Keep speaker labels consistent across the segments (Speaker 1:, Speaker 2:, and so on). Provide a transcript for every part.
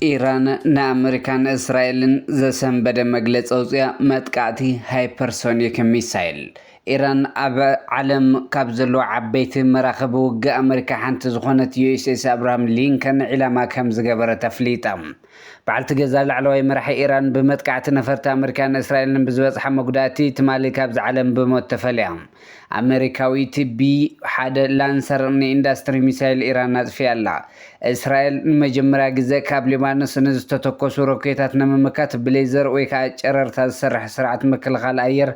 Speaker 1: ኢራን ንኣመሪካን እስራኤልን ዘሰንበደ መግለፂ ኣውፅኣ መጥቃዕቲ ሃይፐርሶኒክ ሚሳይል ኢራን ኣብ ዓለም ካብ ዘለዎ ዓበይቲ መራኸቢ ውግእ ኣመሪካ ሓንቲ ዝኾነት ዩኤስኤስ ኣብርሃም ሊንከን ዒላማ ከም ዝገበረት ኣፍሊጣ በዓልቲ ገዛ ላዕለዋይ መራሒ ኢራን ብመጥቃዕቲ ነፈርቲ ኣመሪካን እስራኤልን ብዝበጽሓ መጉዳእቲ ትማሊ ካብዚ ዓለም ብሞት ተፈልያ። ኣመሪካዊት ቢ ሓደ ላንሰር ንኢንዳስትሪ ሚሳይል ኢራን ኣጽፊያ ኣላ። እስራኤል ንመጀመርያ ግዘ ካብ ሊባኖስ ንዝተተኮሱ ሮኬታት ንምምካት ብሌዘር ወይ ከዓ ጨረርታ ዝሰርሕ ስርዓት ምክልኻል ኣየር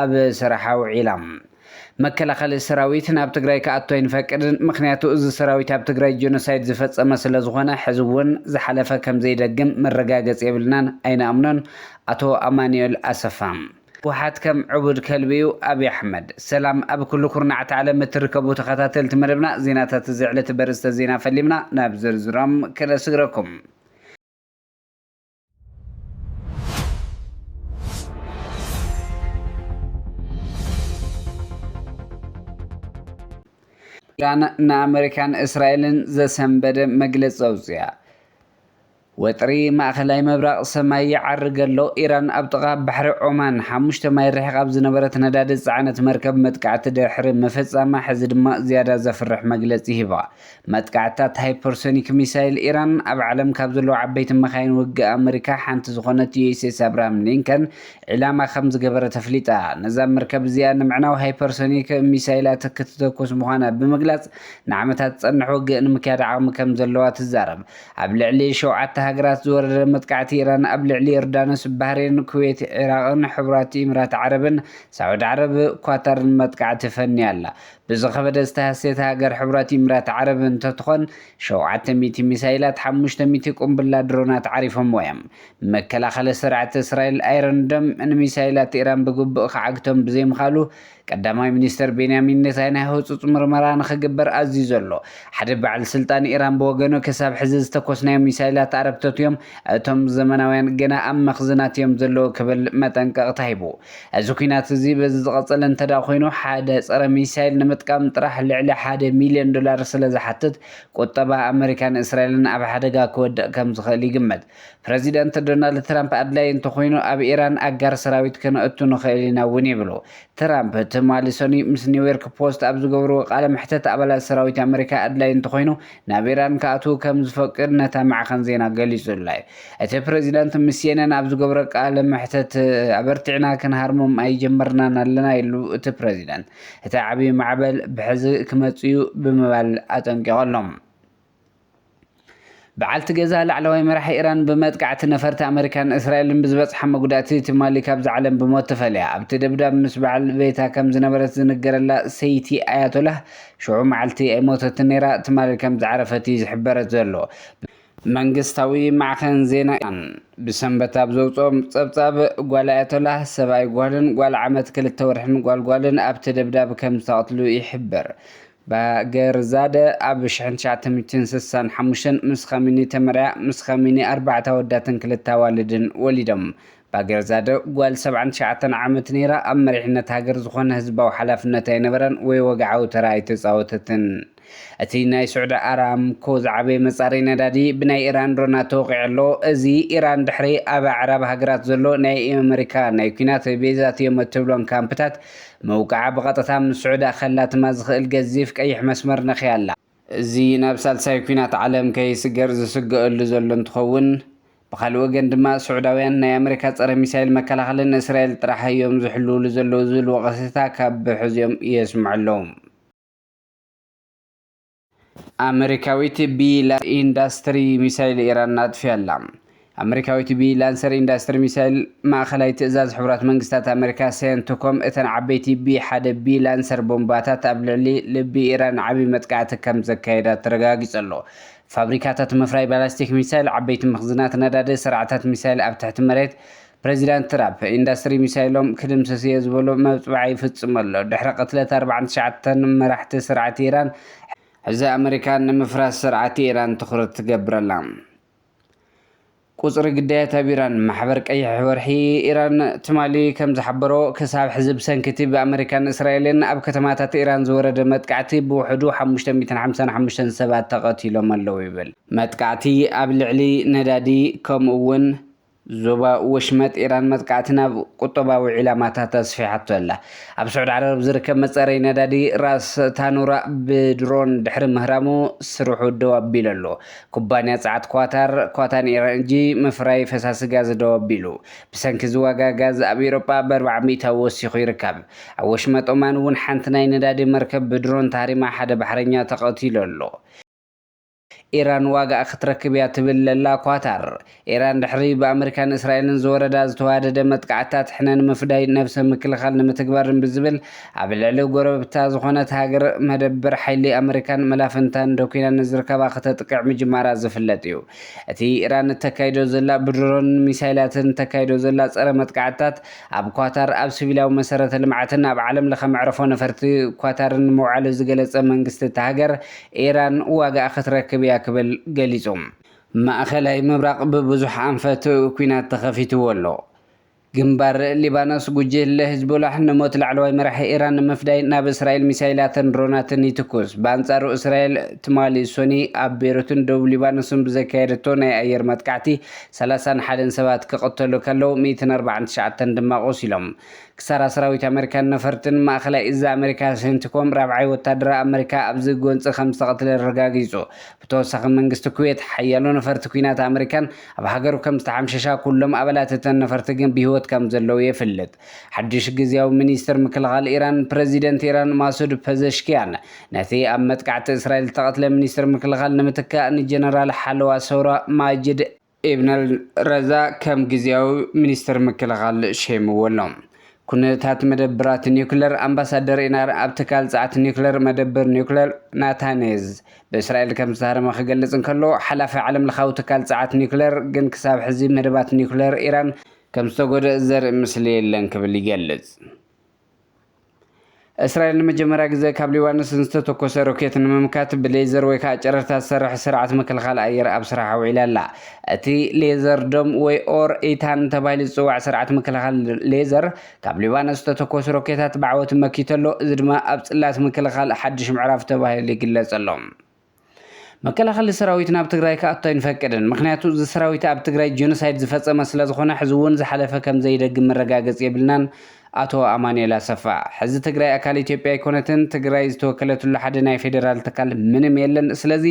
Speaker 1: ኣብ ስራሕ ኣውዒላ። መከላኸሊ ሰራዊት ናብ ትግራይ ክኣቱ ኣይንፈቅድን ምኽንያቱ እዚ ሰራዊት ኣብ ትግራይ ጆኖሳይድ ዝፈፀመ ስለዝኾነ ሕዚ እውን ዝሓለፈ ከምዘይደግም መረጋገፂ የብልናን ኣይንኣምኖን ኣቶ ኣማኒኤል ኣሰፋ። ህወሓት ከም ዕቡድ ከልቢ እዩ ኣብይ ኣሕመድ። ሰላም ኣብ ኩሉ ኩርናዓት ዓለም እትርከቡ ተኸታተልቲ መደብና ዜናታት እዚ ዕለት በርእስተ ዜና ፈሊምና ናብ ዝርዝሮም ክነስግረኩም። ኢራን ንኣመሪካን እስራኤልን ዘሰንበደ መግለፂ ኣውፅኣ ወጥሪ ማእኸላይ ምብራቕ ሰማይ ይዓርግ ኣሎ ኢራን ኣብ ጥቓ ባሕሪ ዖማን ሓሙሽተ ማይ ርሒቕ ኣብ ዝነበረት ነዳዲ ዝፀዓነት መርከብ መጥቃዕቲ ድሕሪ ምፍፃማ ሕዚ ድማ ዝያዳ ዘፍርሕ መግለፂ ሂባ መጥቃዕትታት ሃይፐርሶኒክ ሚሳይል ኢራን ኣብ ዓለም ካብ ዘለዉ ዓበይቲ መካይን ውግእ ኣመሪካ ሓንቲ ዝኾነት ዩኤስኤስ ኣብርሃም ሊንከን ዒላማ ከም ዝገበረት ኣፍሊጣ። ነዛ መርከብ እዚኣ ንምዕናው ሃይፐርሶኒክ ሚሳይላት ክትተኩስ ምዃና ብምግላጽ ንዓመታት ዝጸንሕ ውግእ ንምክያድ ዓቕሚ ከም ዘለዋ ትዛረብ። ኣብ ልዕሊ ሸውዓተ ሃገራት ዝወረደ መጥቃዕቲ ኢራን ኣብ ልዕሊ ዮርዳኖስ፣ ባህሬን፣ ኩዌት፣ ዒራቕን ሕቡራት ኢምራት ዓረብን፣ ሳዑዲ ዓረብ፣ ኳታርን መጥቃዕቲ ፈንያ ኣላ። ብዝኸበደ ዝተሃስየት ሃገር ሕቡራት ኢምራት ዓረብ እንትትኾን፣ ሸውዓተ ሚእቲ ሚሳይላት፣ ሓሙሽተ ሚእቲ ቁምብላ ድሮናት ዓሪፎምዋ'ዮም። መከላኸሊ ስርዓት እስራኤል ኣይሮን ዶም ንሚሳይላት ኢራን ብግቡእ ክዓግቶም ብዘይምኽኣሉ፣ ቀዳማይ ሚኒስተር ቤንያሚን ኔታንያሁ ህጹጽ ምርመራ ንኽግበር ኣዚዙ ኣሎ። ሓደ በዓል ስልጣን ኢራን ብወገኑ፣ ክሳብ ሕዚ ዝተኮስናዮም ሚሳይላት ኣረግቶት'ዮም፣ እቶም ዘመናውያን ግና ኣብ መኽዝናት'ዮም ዘለዉ ክብል መጠንቀቕታ ሂቡ። እዚ ኲናት እዚ በዚ ዝቐጸለ እንተድኣ ኮይኑ፣ ሓደ ጸረ ሚሳይል ንምጥቃም ጥራሕ ልዕሊ ሓደ ሚልዮን ዶላር ስለዝሓትት፣ ቁጠባ ኣመሪካን እስራኤልን ኣብ ሓደጋ ክወድቕ ከምዝኽእል ይግመት። ፕረዚደንት ዶናልድ ትራምፕ ኣድላዪ እንተኾይኑ ኣብ ኢራን ኣጋር ሰራዊት ከነእቱ ንኽእል ኢና እውን ይብሉ። ትራምፕ ትማሊ ሰኑይ ምስ ኒውዮርክ ፖስት ኣብ ዝገብርዎ ቃለ መሕተት ኣባላት ሰራዊት ኣመሪካ ኣድላዪ እንተኾይኑ ናብ ኢራን ክኣትዉ ከም ዝፈቅድ ነታ ማዕኸን ዜና ገሊጹላ'ዩ። እቲ ፕረዚደንት ምስ ሲኤንኤን ኣብ ዝገብሮ ቃለ መሕተት ኣበርቲዕና ክንሃርሞም ኣይጀመርናን ኣለና ኢሉ እቲ ፕረዚደንት። እቲ ዓቢ ማዕበል ብሕዚ ክመጽእ'ዩ ብምባል ኣጠንቂቑ ኣሎ። በዓልቲ ገዛ ላዕለዋይ መራሒ ኢራን ብመጥቃዕቲ ነፈርቲ ኣመሪካን እስራኤልን ብዝበጽሓ መጉዳእቲ ትማሊ ካብዛ ዓለም ብሞት ተፈልያ። ኣብቲ ደብዳብ ምስ በዓል ቤታ ከም ዝነበረት ዝንገረላ ሰይቲ ኣያቶላህ ሽዑ መዓልቲ ኣይሞተትን ነይራ፣ ትማሊ ከም ዝዓረፈት እዩ ዝሕበረት ዘሎ። መንግስታዊ ማዕኸን ዜና ኢራን ብሰንበት ኣብ ዘውጽኦ ጸብጻብ፣ ጓል ኣያቶላህ፣ ሰብኣይ ጓልን ጓል ዓመት ክልተ ወርሕን ጓል ጓልን ኣብቲ ደብዳብ ከም ዝተቐትሉ ይሕብር። ባገርዛደ ኣብ ሽሕን ትሽዓተ ሚእትን ስሳን ሓሙሽተን ምስ ኻሚኒ ተመርዕያ፣ ምስ ኻሚኒ ኣርባዕተ ኣወዳትን ክልተ ኣዋልድን ወሊዶም። ባገርዛደ ጓል ሰብዓን ትሽዓተን ዓመት ነይራ፣ ኣብ መሪሕነት ሃገር ዝኾነ ህዝባዊ ሓላፍነት ኣይነበራን ወይ ወግዓዊ ተራ ኣይተጻወተትን። እቲ ናይ ስዑዲ ኣራምኮ ዝዓበየ መጻረዪ ነዳዲ ብናይ ኢራን ድሮናት ተወቒዑ ኣሎ፣ እዚ ኢራን ድሕሪ ኣብ ኣዕራብ ሃገራት ዘሎ ናይ ኣመሪካ ናይ ኲናት ቤዛት እዮም እትብሎም ካምፕታት ምውቃዓ ብቐጥታ ምስ ስዑዲ ኣኸላትማ ዝኽእል ገዚፍ ቀይሕ መስመር ነኺያ ኣላ። እዚ ናብ ሳልሳይ ኲናት ዓለም ከይስገር ዝስገኣሉ ዘሎ እንትኸውን፣ ብኻልእ ወገን ድማ ሱዕዳውያን ናይ ኣመሪካ ጸረ ሚሳይል መከላኸሊ ንእስራኤል ጥራሕ እዮም ዝሕልውሉ ዘለው ዝብል ወቐሰታ ካብ ብሕዚኦም የስምዑ ኣለው። ኣመሪካዊት ቢላ ኢንዳስትሪ ሚሳይል ኢራን ኣጥፊኣ'ላ። ኣመሪካዊ ቲቢ ላንሰር ኢንዳስትሪ ሚሳይል፣ ማእኸላይ ትእዛዝ ሕቡራት መንግስታት ኣመሪካ፣ ሴንትኮም፣ እተን ዓበይቲ ቢ ሓደ ቢ ላንሰር ቦምባታት ኣብ ልዕሊ ልቢ ኢራን ዓቢ መጥቃዕቲ ከምዘካየዳ ተረጋጊጹ ኣሎ። ፋብሪካታት ምፍራይ ባላስቲክ ሚሳይል፣ ዓበይቲ መኽዝናት ነዳዲ፣ ስርዓታት ሚሳይል ኣብ ትሕቲ መሬት፣ ፕረዚዳንት ትራፕ፣ ኢንዳስትሪ ሚሳይሎም ክድምስስ እየ ዝበሎ መብጽዓ ይፍጽም ኣሎ። ድሕሪ ቅትለት ኣርብዓን ትሽዓተን መራሕቲ ስርዓት ኢራን፣ ሕዚ ኣመሪካ ንምፍራስ ስርዓት ኢራን ትኹረት ትገብር ኣላ። ቁጽሪ ግዳያት ኣብ ኢራን፣ ማሕበር ቀይሕ ወርሒ ኢራን ትማሊ ከም ዝሓበሮ፣ ክሳብ ሕዚ ብሰንኪ እቲ ብኣመሪካን እስራኤልን ኣብ ከተማታት ኢራን ዝወረደ መጥቃዕቲ ብውሕዱ ሓሙሽተ ሚእትን ሓምሳን ሓሙሽተን ሰባት ተቐቲሎም ኣለዉ ይብል። መጥቃዕቲ ኣብ ልዕሊ ነዳዲ ከምኡ'ውን ዞባ ወሽመጥ ኢራን መጥቃዕቲ ናብ ቁጠባዊ ዒላማታት ኣስፊሓቶ ኣላ። ኣብ ስዑድ ዓረብ ዝርከብ መጻረዪ ነዳዲ ራስ ታኑራ ብድሮን ድሕሪ ምህራሙ ስርሑ ደው ኣቢሉ ኣሎ። ኩባንያ ጸዓት ኳታር፣ ኳታን ኤረንጂ፣ ምፍራይ ፈሳሲ ጋዝ ደው ኣቢሉ። ብሰንኪ እዚ ዋጋ ጋዝ ኣብ ኤውሮጳ ብኣርብዓ ሚእታዊ ወሲኹ ይርከብ። ኣብ ወሽመጥ ኦማን እውን ሓንቲ ናይ ነዳዲ መርከብ ብድሮን ተሃሪማ ሓደ ባሕረኛ ተቐቲሉ ኣሎ። ኢራን ዋጋኣ ክትረክብ እያ ትብል ዘላ ኳታር፣ ኢራን ድሕሪ ብኣመሪካን እስራኤልን ዝወረዳ ዝተዋደደ መጥቃዕትታት ሕነ ንምፍዳይ ነብሰ ምክልኻል ንምትግባርን ብዝብል ኣብ ልዕሊ ጎረብብታ ዝኾነት ሃገር መደበር ሓይሊ ኣመሪካን መላፍንታን ደኩና ንዝርከባ ክተጥቅዕ ምጅማራ ዝፍለጥ እዩ። እቲ ኢራን እተካይዶ ዘላ ብድሮንን ሚሳይላትን እተካይዶ ዘላ ጸረ መጥቃዕትታት ኣብ ኳታር ኣብ ስቪላዊ መሰረተ ልምዓትን ኣብ ዓለምለኸ መዕርፎ ነፈርቲ ኳታርን ምውዓሉ ዝገለጸ መንግስቲ እታ ሃገር ኢራን ዋጋኣ ክትረክብ እያ ክብል ገሊጹ። ማእኸላይ ምብራቕ ብብዙሕ ኣንፈት ኲናት ተኸፊትዎ ኣሎ። ግንባር ሊባኖስ፣ ጉጅለ ሂዝቦላህ ንሞት ላዕለዋይ መራሒ ኢራን ንምፍዳይ ናብ እስራኤል ሚሳይላትን ድሮናትን ይትኩስ። ብኣንጻሩ እስራኤል ትማሊ ሶኒ ኣብ ቤሩትን ደቡብ ሊባኖስን ብዘካየደቶ ናይ ኣየር መጥቃዕቲ ሰላሳን ሓደን ሰባት ክቕተሉ ከለው ሚእትን ኣርባዓን ትሽዓተን ድማ ቆሲሎም። ክሳራ ሰራዊት ኣመሪካን ነፈርትን ማእኸላይ እዝ ኣመሪካ ሴንቲኮም ራብዓይ ወታደራዊ ኣመሪካ ኣብዚ ጎንፂ ከምዝተቐትለ ኣረጋጊፁ። ብተወሳኺ መንግስቲ ኩዌት ሓያሎ ነፈርቲ ኲናት ኣመሪካን ኣብ ሃገሩ ከምዝተሓምሸሻ ኩሎም ኣባላት እተን ነፈርቲ ግን ብሂወት ከምዘለዉ የፍልጥ። ሓዱሽ ግዝያዊ ሚኒስትር ምክልኻል ኢራን ፕረዚደንት ኢራን ማሱድ ፐዘሽኪያን ነቲ ኣብ መጥቃዕቲ እስራኤል ዝተቐትለ ሚኒስትር ምክልኻል ንምትካእ ንጀነራል ሓለዋ ሰውራ ማጅድ ኢብነል ረዛእ ከም ግዝያዊ ሚኒስተር ምክልኻል ሸይምዎ ኣሎ። ኩነታት መደብራት ኒዩክለር ኣምባሳደር ኢናር ኣብ ትካል ጸዓት ኒዩክለር መደብር ኒዩክለር ናታንዝ ብእስራኤል ከም ዝተሃረመ ክገልጽ እንከሎ፣ ሓላፊ ዓለምለኻዊ ትካል ጸዓት ኒዩክለር ግን ክሳብ ሕዚ መደባት ኒዩክለር ኢራን ከም ዝተጎድኣ ዘርኢ ምስሊ የለን ክብል ይገልጽ። እስራኤል ንመጀመርያ ግዘ ካብ ሊባኖስ ንዝተተኮሰ ሮኬት ንምምካት ብሌዘር ወይ ከዓ ጨረርታ ዝሰርሕ ስርዓት ምክልኻል ኣየር ኣብ ስራሕ ኣውዒላ ኣላ። እቲ ሌዘር ዶም ወይ ኦር ኢታን ተባሂሉ ዝፅዋዕ ስርዓት ምክልኻል ሌዘር ካብ ሊባኖስ ዝተተኮሱ ሮኬታት ብዓወት መኪቱ ኣሎ። እዚ ድማ ኣብ ፅላት ምክልኻል ሓዱሽ ምዕራፍ ተባሂሉ ይግለፅ ኣሎ። መከላኸሊ ሰራዊት ናብ ትግራይ ክኣቱ ኣይንፈቅድን ምኽንያቱ እዚ ሰራዊት ኣብ ትግራይ ጀኖሳይድ ዝፈፀመ ስለዝኾነ ሕዚ እውን ዝሓለፈ ከምዘይደግም መረጋገፂ የብልናን ኣቶ ኣማኑኤል ኣሰፋ ሕዚ ትግራይ ኣካል ኢትዮጵያ ኣይኮነትን ትግራይ ዝተወከለትሉ ሓደ ናይ ፌደራል ትካል ምንም የለን ስለዚ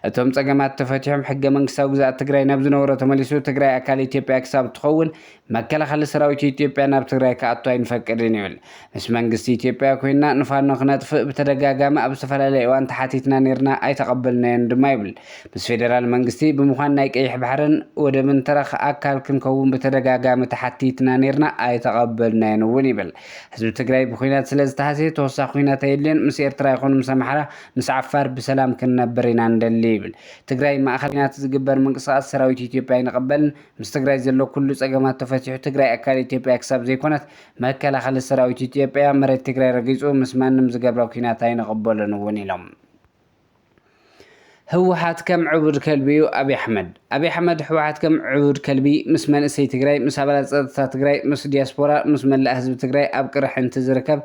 Speaker 1: እቶም ፀገማት ተፈቲሖም ሕገመንግስታዊ ግዝኣት ትግራይ ናብ ዝነበሮ ተመሊሱ ትግራይ ኣካል ኢትዮጵያ ክሳብ እትኸውን መከላኸሊ ሰራዊት ኢትዮጵያ ናብ ትግራይ ክኣቱ ኣይንፈቅድን ይብል። ምስ መንግስቲ ኢትዮጵያ ኮይንና ንፋኖ ክነጥፍእ ብተደጋጋሚ ኣብ ዝተፈላለየ እዋን ተሓቲትና ኔርና ኣይተቐበልናዮን ድማ ይብል። ምስ ፌደራል መንግስቲ ብምዃን ናይ ቀይሕ ባሕርን ወደብን ተረኽ ኣካል ክንከውን ብተደጋጋሚ ተሓቲትና ኔርና ኣይተቐበልናዮን እውን ይብል። ህዝቢ ትግራይ ብኹናት ስለዝተሃስየ ተወሳኺ ኹናት ኣየድልዮን፣ ምስ ኤርትራ ይኹን ምስ ኣምሓራ ምስ ዓፋር ብሰላም ክንነብር ኢና ንደሊ ይብል። ትግራይ ማእኸል ኹናት ዝግበር ምንቅስቓስ ሰራዊት ኢትዮጵያ ኣይንቕበልን፣ ምስ ትግራይ ዘሎ ኩሉ ፀገማት ተፈቲሑ ትግራይ ኣካል ኢትዮጵያ ክሳብ ዘይኮነት መከላኸሊ ሰራዊት ኢትዮጵያ መሬት ትግራይ ረጊፁ ምስ ማንም ዝገብረ ኲናት ኣይንቕበሎን እውን ኢሎም። ህወሓት ከም ዕቡድ ከልቢ እዩ ኣብይ ኣሕመድ ኣብይ ኣሕመድ ህወሓት ከም ዕቡድ ከልቢ ምስ መንእሰይ ትግራይ ምስ ኣባላት ፀጥታ ትግራይ ምስ ዲያስፖራ ምስ መላእ ህዝቢ ትግራይ ኣብ ቅርሕንቲ ዝርከብ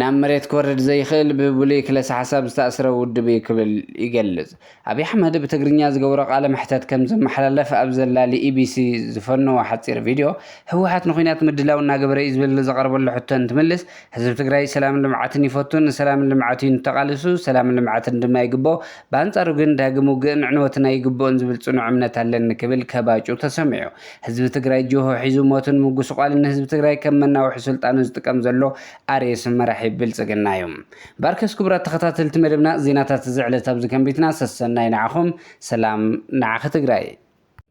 Speaker 1: ናብ መሬት ክወርድ ዘይኽእል ብብሉይ ክለሳ ሓሳብ ዝተኣስረ ውድብ እዩ ክብል ይገልፅ። ኣብይ ኣሕመድ ብትግርኛ ዝገበሮ ቃለ መሕተት ከም ዘመሓላለፍ ኣብ ዘላ ልኢቢሲ ዝፈነዎ ሓፂር ቪድዮ ህወሓት ንኩናት ምድላው እናገበረ እዩ ዝብል ዝቐረበሉ ሕቶ እንትምልስ ህዝቢ ትግራይ ሰላምን ልምዓትን ይፈቱ ንሰላምን ልምዓት እዩ ተቓሊሱ ሰላምን ልምዓትን ድማ ይግበኦ ብኣንፃሩ ግን ዳግም ውግእን ዕንወትን ኣይግበኦን ዝብል ፅኑዕ እምነት ኣለኒ ክብል ከባጩ ተሰሚዑ ህዝቢ ትግራይ ጅሆ ሒዙ ሞትን ምጉስቋልን ንህዝቢ ትግራይ ከም መናውሒ ስልጣኑ ዝጥቀም ዘሎ ኣሬስን መራሒ ብልፅግና እዩ። ባርከስ ክቡራት ተኸታተልቲ መደብና ዜናታት እዚ ዕለት ኣብዚ ከንቢትና ሰሰናዩ ንዓኹም ሰላም ንዓኺ ትግራይ።